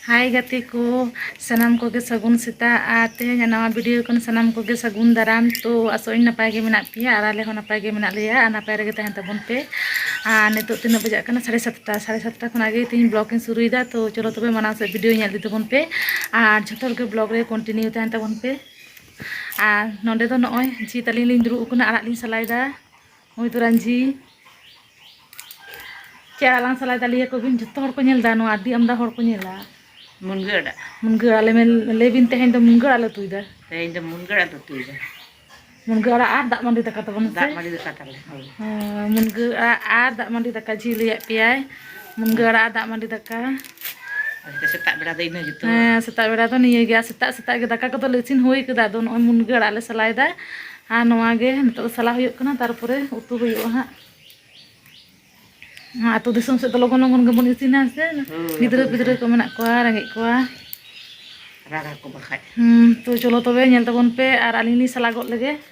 ᱦᱟᱭ ᱜᱟᱛᱮ ᱠᱚ ᱥᱟᱱᱟᱢ ᱠᱚᱜᱮ ᱥᱟᱹᱜᱩᱱ ᱥᱮᱛᱟᱜ ᱟᱨ ᱛᱮᱦᱮᱧ ᱱᱟᱣᱟ ᱵᱷᱤᱰᱤᱭᱳ ᱠᱷᱚᱱ ᱥᱟᱱᱟᱢ ᱠᱚᱜᱮ ᱥᱟᱹᱜᱩᱱ ᱫᱟᱨᱟᱢ ᱛᱚ ᱟᱥᱚᱜ ᱟᱹᱧ ᱱᱟᱯᱟᱭ ᱜᱮ ᱢᱮᱱᱟᱜ ᱯᱮᱭᱟ ᱟᱨ ᱟᱞᱮ ᱦᱚᱸ ᱱᱟᱯᱟᱭ ᱜᱮ ᱢᱮᱱᱟᱜ ᱞᱮᱭᱟ ᱟᱨ ᱱᱟᱯᱟᱭ ᱨᱮᱜᱮ ᱛᱟᱦᱮᱱ ᱛᱟᱵᱚᱱ ᱯᱮ ᱟᱨ ᱱᱤᱛᱚᱜ ᱛᱤᱱᱟᱹᱜ ᱵᱟᱡᱟᱜ ᱠᱟᱱᱟ ᱥᱟᱲᱮ ᱥᱟᱛᱴᱟ ᱥᱟᱲᱮ ᱥᱟᱛᱴᱟ ᱠᱷᱚᱱᱟᱜ ᱜᱮ ᱛᱮᱦᱮᱧ ᱵᱞᱚᱜ ᱤᱧ ᱥᱩᱨᱩᱭᱮᱫᱟ ᱛᱚ ᱪᱚᱞᱚ ᱛᱚᱵᱮ ᱢᱟᱲᱟᱝ ᱥᱮᱫ ᱵᱷᱤᱰᱤᱭᱳ ᱧᱮᱞ ᱤᱫᱤ ᱛᱟᱵᱚᱱ ᱯᱮ ᱟᱨ ᱡᱷᱚᱛᱚ ᱦᱚᱲ ᱜᱮ ᱵᱞᱚᱜ ᱨᱮ ᱠᱚᱱᱴᱤᱱᱤᱭᱩ ᱛᱟᱦᱮᱱ ᱛᱟᱵᱚᱱ ᱯᱮ ᱟᱨ ᱱᱚᱰᱮ ᱫᱚ ᱱᱚᱜᱼᱚᱭ ᱡᱤ ᱛᱟᱹᱞᱤᱧ ᱞᱤᱧ ᱫᱩᱲᱩᱵ ᱟᱠᱟᱱᱟ ᱟᱲᱟᱜ ᱞᱤᱧ ᱥᱟᱞᱟᱭᱮᱫᱟ ᱱᱩᱭ ᱫᱚ ᱨᱟᱹᱧᱡᱷᱤ ᱪᱮᱫ ᱟᱲᱟᱜ ᱞᱟᱝ ᱥᱟᱞᱟᱭ ᱫᱟᱞᱮᱭᱟ ᱠᱚ ᱵᱤᱱ ᱡᱚᱛᱚ ᱦᱚᱲ ᱠᱚ ᱧᱮᱞ ᱫᱟ ᱱᱚᱣᱟ ᱟᱹᱰᱤ ᱟᱢᱫᱟ ᱦᱚᱲ ᱠᱚ ᱧᱮᱞᱟ ᱢᱩᱱᱜᱟᱹ ᱟᱲᱟᱜ ᱢᱩᱱᱜᱟᱹ ᱟᱲᱟᱜ ᱞᱮ ᱞᱟᱹᱭ ᱵᱤᱱ ᱛᱮᱦᱮᱧ ᱫᱚ ᱢᱩᱱᱜᱟᱹ ᱟᱲᱟᱜ ᱞᱮ ᱩᱛᱩᱭ ᱫᱟ ᱛᱮᱦᱮᱧ ᱫᱚ ᱢᱩᱱᱜᱟᱹ ᱟᱲᱟᱜ ᱞᱮ ᱩᱛᱩᱭ ᱫᱟ ᱢᱩᱱᱜᱟᱹ ᱟᱲᱟᱜ ᱟᱨ ᱫᱟᱜ ᱢᱟᱹᱰᱤ ᱫᱟᱠᱟ ᱛᱟᱵᱚᱱ ᱫᱟᱜ ᱢᱟᱹᱰᱤ ᱫᱟᱠᱟ ᱛᱟᱞᱮ ᱢᱩᱱᱜᱟᱹ ᱟᱲᱟᱜ ᱟᱨ ᱫᱟᱜ ᱢᱟᱹᱰᱤ ᱫᱟᱠᱟ ᱡᱷᱤ ᱞᱟᱹᱭᱟᱫ ᱯᱮᱭᱟᱭ ᱢᱩᱱᱜᱟᱹ ᱟᱲᱟᱜ ᱫᱟᱜ ᱢᱟᱹᱰᱤ ᱫᱟᱠᱟ ᱥᱮᱛᱟᱜ ᱵᱮᱲᱟ ᱫᱚ ᱤᱱᱟᱹ ᱜᱮᱛᱚ ᱦᱮᱸ ᱥᱮᱛᱟᱜ ᱵᱮᱲᱟ ᱫᱚ ᱱᱤᱭᱟᱹ ᱜᱮᱭᱟ ᱥᱮᱛᱟᱜ ᱥᱮᱛᱟᱜ ᱜᱮ ᱫᱟᱠᱟ ᱠᱚᱫᱚ ᱞᱮ ᱤᱥᱤᱱ ᱦᱩᱭ ᱠᱟᱫᱟ ᱟᱫᱚ ᱱᱚᱜᱼᱚᱭ ᱢᱩᱱᱜᱟᱹ ᱟᱲᱟᱜ ᱞᱮ ᱥᱟᱞᱟᱭᱮᱫᱟ ᱟᱨ ᱱᱚᱣᱟ ᱜᱮ ᱱᱤᱛᱚᱜ ᱫᱚ ᱥᱟᱞᱟ ᱦᱩᱭᱩᱜ ᱠᱟᱱᱟ ᱛᱟᱨᱯᱚᱨᱮ ᱩᱛᱩ ᱦᱩᱭᱩᱜᱼᱟ ᱦᱟᱸᱜ ᱟᱹᱛᱩ ᱫᱤᱥᱚᱢ ᱥᱮᱫ ᱫᱚ ᱞᱚᱜᱚᱱ ᱞᱚᱜᱚᱱ ᱜᱮᱵᱚᱱ ᱤᱥᱤᱱᱟ ᱥᱮ ᱜᱤᱫᱽᱨᱟᱹ ᱯᱤᱫᱽᱨᱟᱹ ᱠᱚ ᱢᱮᱱᱟᱜ ᱠᱚᱣᱟ ᱨᱮᱸᱜᱮᱡ ᱠᱚᱣᱟ ᱨᱟᱜᱟ ᱠᱚ ᱵᱟᱠᱷᱟᱡ ᱦᱩᱸ ᱛᱚ ᱪᱚᱞᱚ ᱛᱚᱵᱮ ᱧᱮᱞ ᱛᱟᱵᱚᱱ ᱯᱮ ᱟᱨ ᱟᱹᱞᱤᱧ ᱞᱤᱧ ᱥᱟᱞᱟ ᱜᱚᱫ ᱞᱮᱜᱮ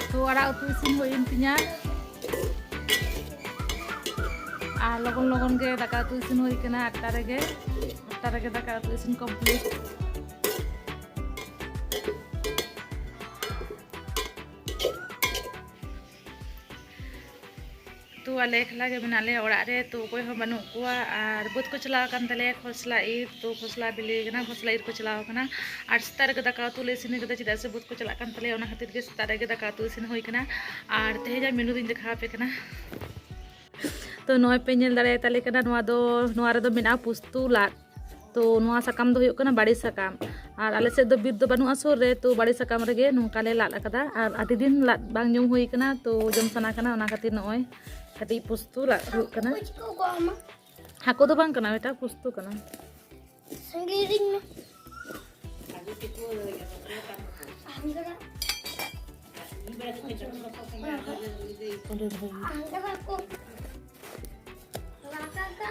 ᱩᱛᱩ ᱟᱲᱟᱜ ᱩᱛᱩ ᱤᱥᱤᱱ ᱦᱩᱭᱮᱱ ᱛᱤᱧᱟ ᱟᱨ ᱞᱚᱜᱚᱱ ᱞᱚᱜᱚᱱ ᱜᱮ ᱫᱟᱠᱟ ᱩᱛᱩ ᱤᱥᱤᱱ ᱦᱩᱭ ᱠᱟᱱᱟ ᱟᱴᱴᱟ ᱨᱮᱜᱮ ᱟᱴᱴᱟ ᱨᱮᱜᱮ ᱫᱟᱠᱟ ᱩᱛᱩ ᱤᱥᱤᱱ ᱠᱚᱢᱯᱞᱤᱴ ᱛᱚ ᱟᱞᱮ ᱮᱠᱞᱟ ᱜᱮ ᱢᱮᱱᱟᱜ ᱞᱮᱭᱟ ᱚᱲᱟᱜ ᱨᱮ ᱛᱚ ᱚᱠᱚᱭ ᱦᱚᱸ ᱵᱟᱹᱱᱩᱜ ᱠᱚᱣᱟ ᱟᱨ ᱵᱟᱹᱫᱽ ᱠᱚ ᱪᱟᱞᱟᱣ ᱟᱠᱟᱱ ᱛᱟᱞᱮᱭᱟ ᱠᱷᱚᱥᱞᱟ ᱤᱨ ᱛᱚ ᱠᱷᱚᱥᱞᱟ ᱵᱤᱞᱤ ᱠᱟᱱᱟ ᱠᱷᱚᱥᱞᱟ ᱤᱨ ᱠᱚ ᱪᱟᱞᱟᱣ ᱟᱠᱟᱱᱟ ᱟᱨ ᱥᱮᱛᱟᱜ ᱨᱮᱜᱮ ᱫᱟᱠᱟ ᱩᱛᱩ ᱞᱮ ᱤᱥᱤᱱ ᱟᱠᱟᱫᱟ ᱪᱮᱫᱟᱜ ᱥᱮ ᱵᱟᱹᱫᱽ ᱠᱚ ᱪᱟᱞᱟᱜ ᱠᱟᱱ ᱛᱟᱞᱮᱭᱟ ᱚᱱᱟ ᱠᱷᱟᱹᱛᱤᱨ ᱜᱮ ᱥᱮᱛᱟᱜ ᱨᱮᱜᱮ ᱫᱟᱠᱟ ᱩᱛᱩ ᱤᱥᱤᱱ ᱦᱩᱭ ᱟᱠᱟᱱᱟ ᱟᱨ ᱛᱮᱦᱮᱧᱟᱜ ᱢᱮᱱᱩ ᱫᱚᱧ ᱫᱮᱠᱷᱟᱣ ᱟᱯᱮ ᱠᱟᱱᱟ ᱛᱚ ᱱᱚᱜᱼᱚᱭ ᱯᱮ ᱧᱮᱞ ᱫᱟᱲᱮᱭᱟᱛᱟᱞᱮ ᱠᱟᱱᱟ ᱱᱚᱣᱟ ᱫᱚ ᱱᱚᱣᱟ ᱨᱮᱫᱚ ᱢᱮᱱᱟᱜᱼᱟ ᱯᱩᱥᱛᱩ ᱞᱟᱫ ᱛᱚ ᱱᱚᱣᱟ ᱥᱟᱠᱟᱢ ᱫᱚ ᱦᱩᱭᱩᱜ ᱠᱟᱱᱟ ᱵᱟᱲᱮ ᱥᱟᱠᱟᱢ ᱟᱨ ᱟᱞᱮ ᱥᱮᱫ ᱫᱚ ᱵᱤᱨ ᱫᱚ ᱵᱟᱹᱱᱩᱜᱼᱟ ᱥᱩᱨ ᱨᱮ ᱛᱚ ᱵᱟᱲᱮ ᱥᱟᱠᱟᱢ ᱨᱮᱜᱮ ᱱᱚᱝᱠᱟ ᱞᱮ ᱞᱟᱫ ᱟᱠᱟᱫᱟ ᱟᱨ ᱟᱹᱰᱤ ᱫᱤᱱ ᱞᱟᱫ ᱵᱟᱝ ᱡᱚᱢ ᱦᱩᱭ ᱠᱟᱱᱟ ᱛᱚ ᱡᱚᱢ ᱥᱟᱱᱟ ᱠᱟᱱᱟ ᱚᱱᱟ ᱠᱷᱟᱹᱛᱤᱨ ᱱᱚᱜᱼᱚᱭ ᱠᱟᱹᱴᱤᱡ ᱯᱩᱥᱛᱩ ᱞᱟᱫ ᱦᱩᱭᱩᱜ ᱠᱟᱱᱟ ᱦᱟᱹᱠᱩ ᱫᱚ ᱵᱟᱝ ᱠᱟᱱᱟ ᱢᱤᱫᱴᱟᱝ ᱯᱩᱥᱛᱩ ᱠᱟᱱᱟ ᱟᱝᱜᱟ ᱠᱚ ᱞᱟᱠᱟ ᱠᱟ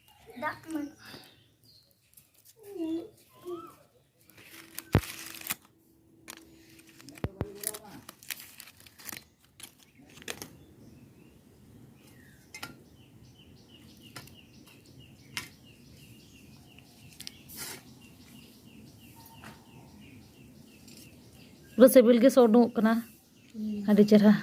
ᱫᱟᱜ ᱢᱟᱹᱰᱤ ᱯᱩᱨᱟᱹ ᱥᱤᱵᱤᱞ ᱜᱮ ᱥᱚ ᱩᱰᱩᱝᱚᱜ ᱠᱟᱱᱟ ᱟᱹᱰᱤ ᱪᱮᱨᱦᱟ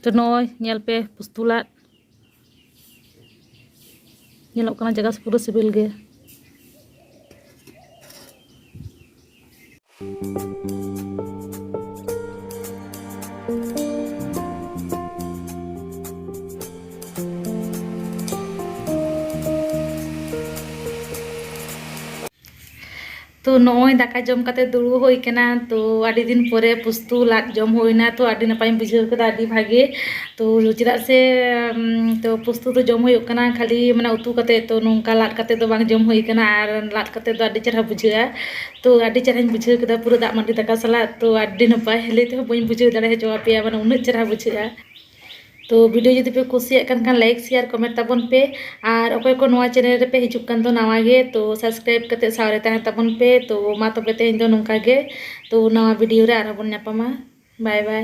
ᱛᱚ ᱱᱚᱜᱼᱚᱭ ᱧᱮᱞ ᱯᱮ ᱯᱩᱥᱛᱩ ᱞᱟᱫ ᱧᱮᱞᱚᱜ ᱠᱟᱱᱟ ᱡᱟᱭᱜᱟ ᱯᱩᱨᱟᱹ ᱥᱤᱵᱤᱞ ᱜᱮ ᱛᱚ ᱱᱚᱜᱼᱚᱭ ᱫᱟᱠᱟ ᱡᱚᱢ ᱠᱟᱛᱮ ᱫᱩᱲᱩᱵ ᱦᱩᱭ ᱠᱟᱱᱟ ᱛᱚ ᱟᱹᱰᱤ ᱫᱤᱱ ᱯᱚᱨᱮ ᱯᱩᱥᱛᱩ ᱞᱟᱫ ᱡᱚᱢ ᱦᱩᱭᱱᱟ ᱛᱚ ᱟᱹᱰᱤ ᱱᱟᱯᱟᱭᱤᱧ ᱵᱩᱡᱷᱟᱹᱣ ᱠᱮᱫᱟ ᱟᱹᱰᱤ ᱵᱷᱟᱜᱮ ᱛᱚ ᱪᱮᱫᱟᱜ ᱥᱮ ᱛᱚ ᱯᱩᱥᱛᱩ ᱫᱚ ᱡᱚᱢ ᱦᱩᱭᱩᱜ ᱠᱟᱱᱟ ᱠᱷᱟᱹᱞᱤ ᱢᱟᱱᱮ ᱩᱛᱩ ᱠᱟᱛᱮ ᱛᱚ ᱱᱚᱝᱠᱟ ᱞᱟᱫ ᱠᱟᱛᱮ ᱫᱚ ᱵᱟᱝ ᱡᱚᱢ ᱦᱩᱭ ᱠᱟᱱᱟ ᱟᱨ ᱞᱟᱫ ᱠᱟᱛᱮ ᱫᱚ ᱟᱹᱰᱤ ᱪᱮᱦᱨᱟ ᱵᱩᱡᱷᱟᱹᱜᱼᱟ ᱛᱚ ᱟᱹᱰᱤ ᱪᱮᱦᱨᱟᱧ ᱵᱩᱡᱷᱟᱹᱣ ᱠᱮᱫᱟ ᱯᱩᱨᱟᱹ ᱫᱟᱜ ᱢᱟᱹᱰᱤ ᱫᱟᱠᱟ ᱥᱟᱞᱟᱜ ᱛᱚ ᱟᱹᱰᱤ ᱱᱟᱯᱟᱭ ᱞᱟᱹᱭ ᱛᱮᱦᱚᱸ ᱵᱟᱹᱧ ᱵᱩᱡᱷᱟᱹᱣ ᱫᱟᱲᱮ ᱦᱚᱪᱚ ᱟᱯᱮᱭᱟ ᱢᱟᱱᱮ ᱩᱱᱟᱹᱜ ᱪᱮᱦᱨᱟ ᱵᱩᱡᱷᱟᱹᱜᱼᱟ ᱛᱚ ᱵᱷᱤᱰᱤᱭᱳ ᱡᱩᱫᱤ ᱯᱮ ᱠᱩᱥᱤᱭᱟᱜ ᱠᱟᱱ ᱠᱷᱟᱱ ᱞᱟᱭᱤᱠ ᱥᱮᱭᱟᱨ ᱠᱚᱢᱮᱱᱴ ᱛᱟᱵᱚᱱ ᱯᱮ ᱟᱨ ᱚᱠᱚᱭ ᱠᱚ ᱱᱚᱣᱟ ᱪᱮᱱᱮᱞ ᱨᱮᱯᱮ ᱦᱤᱡᱩᱜ ᱠᱟᱱ ᱫᱚ ᱱᱟᱣᱟ ᱜᱮ ᱛᱚ ᱥᱟᱵᱥᱠᱨᱟᱭᱤᱵ ᱠᱟᱛᱮ ᱥᱟᱶᱨᱮ ᱛᱟᱦᱮᱸ ᱛᱟᱵᱚᱱ ᱯᱮ ᱛᱚ ᱢᱟ ᱛᱚᱵᱮ ᱛᱮᱦᱮᱧ ᱫᱚ ᱱᱚᱝᱠᱟ ᱜᱮ ᱛᱚ ᱱᱟᱣᱟ ᱵᱷᱤᱰᱤᱭᱳ ᱨᱮ ᱟᱨᱦᱚᱸ ᱵᱚᱱ ᱧᱟᱯᱟᱢᱟ ᱵᱟᱭ ᱵᱟᱭ